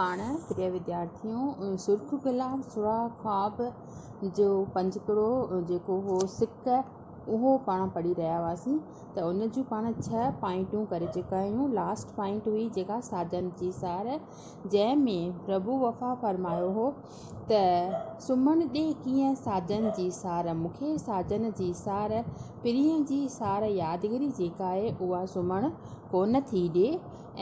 پاڻ پريا وديارٿيون سرخ گلاب سرها خواب جو پنجڪڙو جيڪو هو سڪ اهو پاڻ پڙهي رهيا هئاسين ته ان جون پاڻ ڇهه پوائنٽون ڪري چڪا آهيون لاسٽ پوائنٽ هئي جيڪا ساجن جي سار جنهن ۾ پرڀو وفا فرمايو هو ته سمهڻ ڏي ڪيئن ساجن جي سار مون کي ساجن جي سار پرينء جي سار يادگري جيڪا آهي اها سمهڻ ڪونه ٿي ڏي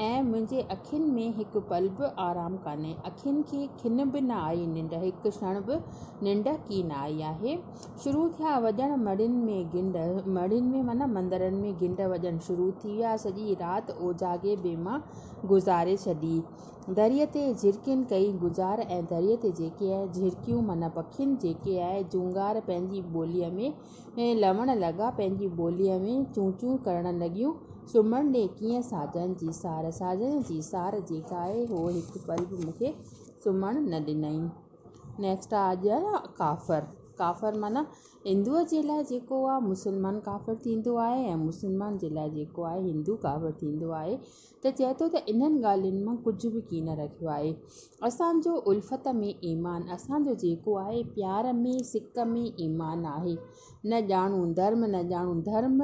۽ منهنجي اکين ۾ هڪ پل به آرام ڪانهي. اکين کي کن به نه آئي ننڊ، هڪ ڇڻ به ننڊ ڪين آئي آهي. شروع ٿيا وڄڻ مڙهين ۾ گنڊ، مڙهين ۾ معنيٰ مندرن ۾ گنڊ وڄڻ شروع ٿي ويا. سڄي رات اوجاڳي به مان گذاري ڇڏي. دريء تي جهرڪين ڪئي گذار ۽ دريء تي جيڪي جهرڪيون معنيٰ پکين جيڪي جهونگار پنهنجي ٻوليء ۾. لوڻ لڳا پنهنجي ٻوليء ۾ چون چون ڪرڻ لڳيون. سمهڻ ڏي ڪيئن ساجن جي سار، ساجن جي سار جي ڳائي هو هڪ پل به مون کي سمهڻ نه ڏنائين. Next آ اڄ آيا ڪافر، ڪافر معنيٰ هندوء جي لاء جيڪو آ مسلمان ڪافر ٿيندو آهي ۽ مسلمان جي لاء جيڪو آهي هندو ڪافر ٿيندو آهي. ته چئي ٿو ته انهن ڳالهين مان ڪجهه به ڪين رکيو آهي. اسان جو الفت ۾ ايمان، اسان جو جيڪو آهي پيار ۾، سڪ ۾، ايمان آهي. نه ڄاڻون ڌرم، نه ڄاڻون ڌرم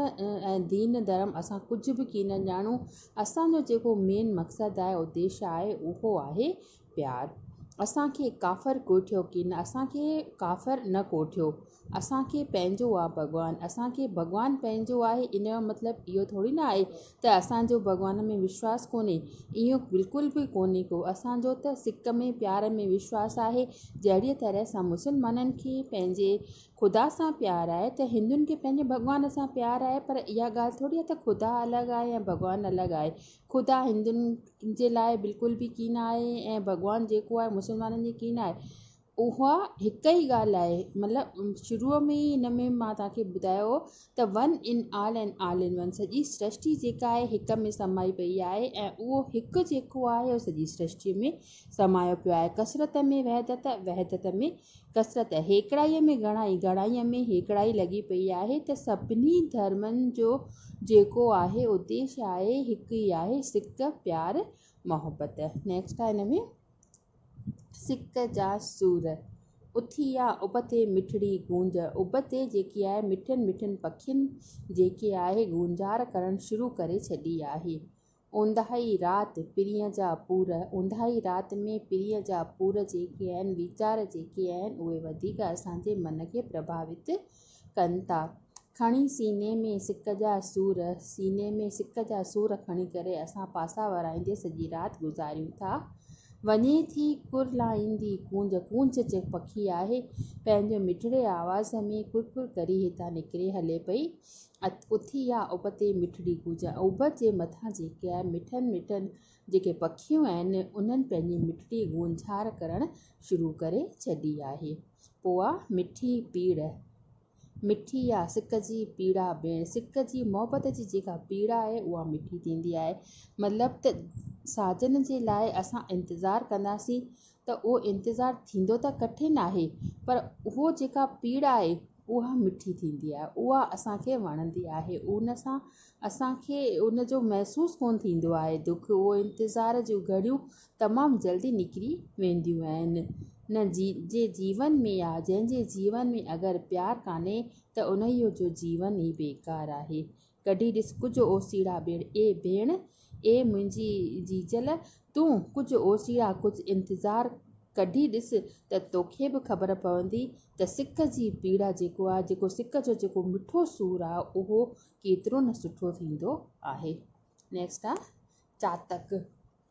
۽ دين ڌرم اسان ڪجهه به ڪين ڄاڻون. اسان جو جيڪو مين مقصد آهي، اديش آهي، اهو آهي پيار اسان کي ڪافر ڪوٺيو ڪين اسان کي ڪافر نه ڪوٺيو اسان کي پنهنجو آ ڀڳوان اسان کي ڀڳوان پنهنجو آهي ان جو مطلب اهو ٿوري نه آهي ته اسان جو ڀڳوان ۾ وشواس ڪونهي اهو بلڪل به ڪونهي ڪو اسان جو ته سڪ ۾ پيار ۾ وشواس آهي جهڙيء طرح سان مسلمانن کي پنهنجي خدا سان پيار آهي ته هندن کي پنهنجي ڀڳوان سان پيار آهي پر اها ڳالهه ٿوري آهي ته خدا الڳ آهي يا ڀڳوان الڳ آهي خدا هندن ان جي لاء بلڪل به ڪين آهي ۽ ڀڳوان جيڪو آهي مسلمانن جي ڪين آهي اها هڪ ئي ڳالهه آهي مطلب شروع ۾ ئي ان ۾ مان توهان کي ٻڌايو ته one in all and all in one سڄي سرشٽي جيڪا آهي هڪ ۾ سمائي پئي آهي ۽ اهو هڪ جيڪو آهي اهو سڄي سرشٽي ۾ سمايو پيو آهي ڪثرت ۾ وحدت وحدت ۾ ڪثرت هيڪڙائيء ۾ گهڻائي، گهڻائيء ۾ هيڪڙائي لڳي پئي آهي ته سڀني ڌرمن جو جيڪو آهي اديش آهي هڪ ئي آهي، سڪ، پيار، محبت. Next آهي هن ۾ سڪ جا سور، اٿي آ ابتي مٺڙي گونج، ابتي جيڪي آهي مٺين مٺين پکين جيڪي آهي گونجار ڪرڻ شروع ڪري ڇڏي آهي. اونداهي رات پرينء جا پور، اونداهي رات ۾ پرينء جا پور جيڪي آهن، ويچار جيڪي آهن، اهي وڌيڪ اسان جي من کي پرڀاوت ڪن ٿا. کڻي سيني ۾ سڪ جا سور، سيني ۾ سڪ جا سور کڻي ڪري اسان پاسا ورائيندي سڄي رات گذاريون ٿا. وڃي ٿي ڪر لائيندي ڪونج، ڪونج پکي آهي، پنهنجي مٺڙي آواز ۾ ڪر ڪر ڪري هتان نڪري هلي پئي. اٿي يا ابتي مٺڙي گوجا ابت جي مٿان جيڪي آهي مٺن مٺن جيڪي پکيون آهن انهن پنهنجي مٺڙي گونجهار ڪرڻ شروع ڪري ڇڏي آهي پوء آ مٺي پيڙهه مٺي يا سڪ جي پيڙا ڀيڻ سڪ جي محبت جي جيڪا پيڙا آهي اها مٺي ٿيندي آهي مطلب ته ساجن جي لاء اسان انتظار ڪنداسين ته اهو انتظار ٿيندو ته ڪٺن آهي پر اهو جيڪا پيڙا آهي اها مٺي ٿيندي آهي اها اسان کي وڻندي آهي ان سان اسان کي ان جو محسوس ڪونه ٿيندو آهي دک اهو انتظار جون گهڙيون تمام جلدي نڪري وينديون آهن نه جي جي جيون ۾ يا جنهن جي جيون ۾ اگر پيار ڪانهي ته انهيء جو جيون ئي بيڪار آهي ڪڍي ڏس ڪجهه اوسيڙا ٻيڻ. اي ڀيڻ! اي منهنجي جيجل! تون ڪجهه اوسيڙا ڪجهه انتظار ڪڍي ڏس ته توکي به خبر پوندي ته سڪ جي پيڙا جيڪو آهي، جيڪو سڪ جو جيڪو مٺو سور آهي اهو ڪيترو نه سٺو ٿيندو آهي. نيڪسٽ آهي چاتڪ.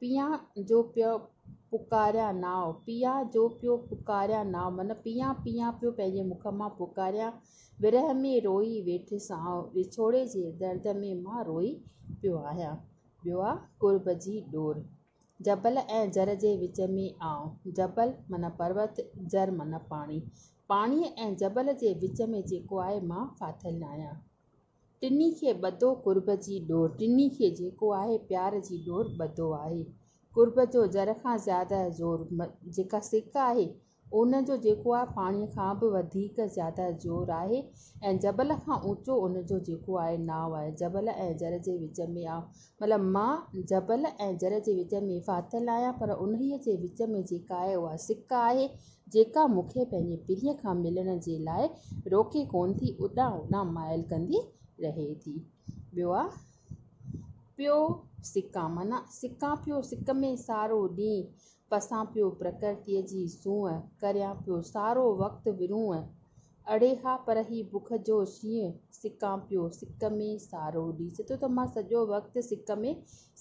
پيا جو پيو پڪاريان ناء، پيا جو پيو پڪاريان ناء، من پيا پيا پيو پنهنجي مک مان پڪاريان، ورهه ۾ روئي ويٺس آئون، وڇوڙي جي درد ۾ مان روئي پيو آهيان. ٻيو آ قرب جي ڏور، جبل ۽ جر جي وچ ۾ آئون، جبل معنيٰ پروت، جر معنيٰ پاڻي، پاڻي ۽ جبل جي وچ ۾ جيڪو آهي مان ڦاٿل آهيان. ٽنهي کي ٻڌو قرب جي ڏور. ٽنهي کي جيڪو آهي پيار جي ڏور ٻڌو آهي. قرب جو زر کان زياده زور جيڪا سڪ آهي ان جو جيڪو آهي پاڻي کان به وڌيڪ زياده زور آهي ۽ جبل کان اوچو ان جو جيڪو آهي ناء آهي. جبل ۽ زر جي وچ ۾ آء مطلب مان جبل ۽ جر جي وچ ۾ ڦاٿل آهيان پر انهيء جي وچ ۾ جيڪا آهي اها سڪ آهي جيڪا مون کي پنهنجي پيء کان ملڻ جي لاء روڪي ڪونه ٿي اڏان اڏان مائل ڪندي رهي ٿي. ٻيو آ پيو سڪان معنيٰ سڪان پيو سڪ ۾ سارو ڏينهن پسان پيو پرڪرتيء جي سونهن، ڪريان پيو سارو وقت ورونهن. اڙي ها پر هي بک جو شينهن، سڪان پيو سڪ ۾ سارو ڏينهن. چئي ٿو ته مان سڄو وقت سڪ ۾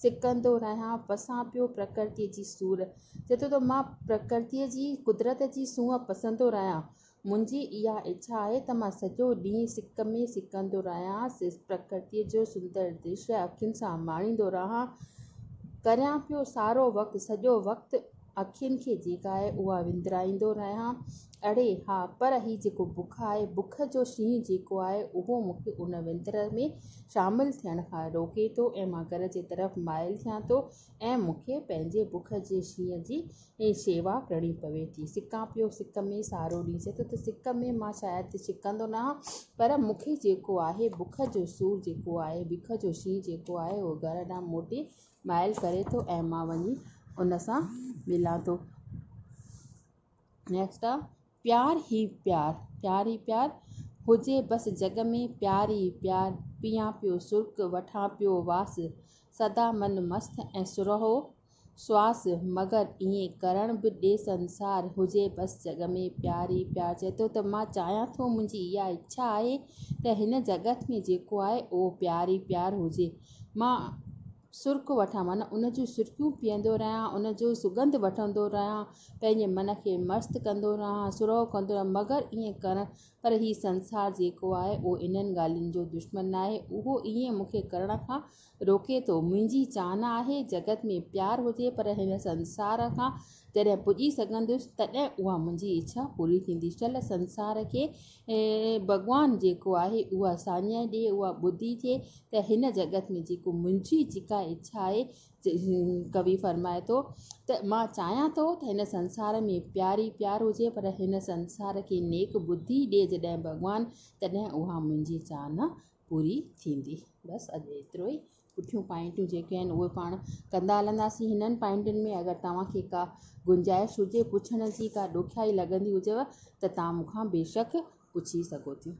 سڪندو رهيان، پسان پيو پرڪرتيء جي سور. چئي ٿو ته مان پرڪرتيء جي، قدرت جي سونهن پسندو رهيان، منهنجي اها اڇا آهي ته مان سڄو ڏينهن سڪ ۾ سڪندو رهيان، پرڪرتيء جو سندر درشي اکين سان ماڻيندو رهان، ڪريان پيو سارو وقت، سڄو وقت اکين کي جيڪا آهي اها وندرائيندو رهيان. اڙي ها، پر هي جيڪو بک آهي، بک جو شينهن جيڪو آهي، اهو مون کي ان وندر ۾ شامل ٿيڻ کان روڪي ٿو ۽ مان گهر جي طرف مائل ٿيان ٿو ۽ مون کي پنهنجي بک جي شينهن جي اي شيوا ڪرڻي پوي ٿي. سڪان پيو سڪ ۾ سارو ڏينهن چئي ٿو ته سڪ ۾ مان شايد ڇڪندو نه هان پر مون کي جيڪو آهي بک جو سور جيڪو آهي بک جو شينهن جيڪو آهي اهو گهر ڏانهن موٽي مائل ڪري ٿو ۽ مان وڃي ان سان ملان ٿو. Next پيار هي پيار، پيار هي پيار، هجي بس جڳ ۾ پيار ئي پيار، پيان پيو سرڪ، وٺان پيو واس، سدا من مست ۽ سرهو سواس، مگر ائين ڪرڻ به ڏي سنسار، هجي بس جڳ ۾ پيار ئي پيار، چئي ٿو ته مان چاهيان ٿو منهنجي اها اڇا آهي ته هن جڳت ۾ جيڪو آهي اهو پيار ئي پيار هجي، مان سرڪ وٺان معنيٰ ان جون سرڪيون پيئندو رهيان، ان جو سڳنڌ وٺندو رهيان، پنهنجي من کي مست ڪندو رهان، سرهو ڪندو رهان، مگر ائين ڪرڻ، پر هي سنسار جيڪو آهي، اهو انهن ڳالهين جو دشمن ناهي، اهو ائين مون کي ڪرڻ کان روڪي ٿو، منهنجي چانهه آهي، جڳت ۾ پيار هجي، پر هن سنسار کان جڏهن پڄي سگهندس، تڏهن اها منهنجي اڇا پوري ٿيندي، شل سنسار کي اي ڀڳوان! جيڪو آهي اها ساڃاهه ڏي، اها ٻڌيجي ته هن جڳت ۾ جيڪو منهنجي جيڪا اڇا آهي. ڪوي فرمائي ٿو ته مان چاهيان ٿو ته هن سنسار ۾ پيار ئي پيار هجي پر هن سنسار کي نيڪ ٻڌي ڏي جڏهن ڀڳوان تڏهن اها منهنجي چاهنا پوري ٿيندي. بس اڄ ايترو ئي. پٺيون پوائنٽون جيڪي آهن اهي پاڻ ڪندا هلنداسين هنن پوائنٽن ۾ اگر توهان کي ڪا گنجائش هجي پڇڻ جي ڪا ڏکيائي لڳندي هجيو ته توهان مون کان بيشڪ پڇي سگهو ٿيون.